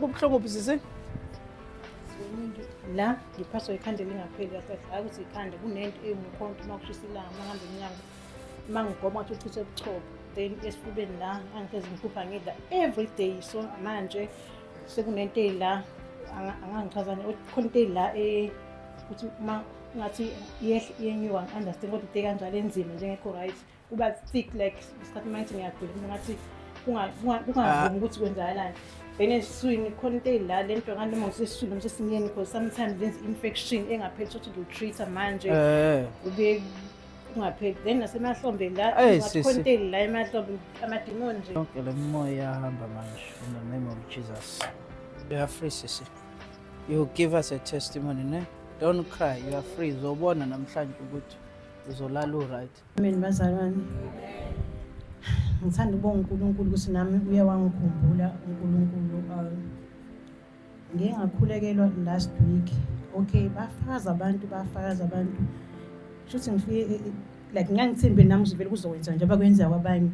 Kubuhlungu buzisi. La ngiphaswa ikhanda elingapheli kahle hayi ukuthi ikhanda kunento eyumukhonto uma kushisa ilanga uma ngihamba emnyango uma ngigoma ukuthi uchithe ubuchopho then esifubeni la angifeze ngiphupha ngidla every day so manje sekunento eyila angangichazani khona into eyila eh, ukuthi uma ngathi iyenyuka ngi-understand kodwa into ekanjalo enzima njengekho right kuba thick like isikhathi manje ngiyagula mina ngathi kungavumi ukuthi kwenzakalani then esiswini khona into eyila le nto kanti noma ngisesiswini noma sesimyeni because sometimes lenza i-infection engapheli sokuthi ngiwutreat-a manje eh. ube kungapheli then nasemahlombeni la khona into eyila emahlombe amadimoni nje yonke le moya yahamba manje in the name of jesus you are free sisi you give us a testimony ne don't cry you are free uzobona namhlanje ukuthi uzolala u-right Amen bazalwane. Ngithanda ukubonga uNkulunkulu ukuthi nami uye wangikhumbula uNkulunkulu. Uh, Ngike ngakhulekelwa last week. Okay, bafakaza abantu, bafakaza abantu. Shuthi ngifike eh, eh, like ngangithembe nami ngivele kuzokwenza nje abakwenza kwabanye.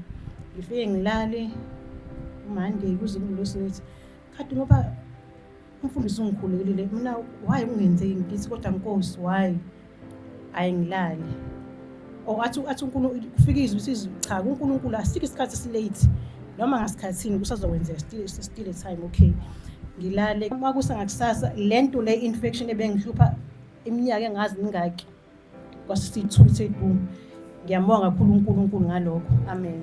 Ngifike ngilale uMande kuze kungilosinithi. Khathi ngoba Umfundisi ungikhulekile mina why kungenzeki ngithi kodwa nkosi why ayingilali or athi athi uNkulunkulu kufika izwi sizi cha kuNkulunkulu asike isikhathi silate noma ngasikhathini kusazokwenzeka still still a time okay ngilale uma kusangakusasa lento le infection ebengihlupha iminyaka engazi mingaki kwasisithuthi edu ngiyambonga kakhulu uNkulunkulu ngalokho amen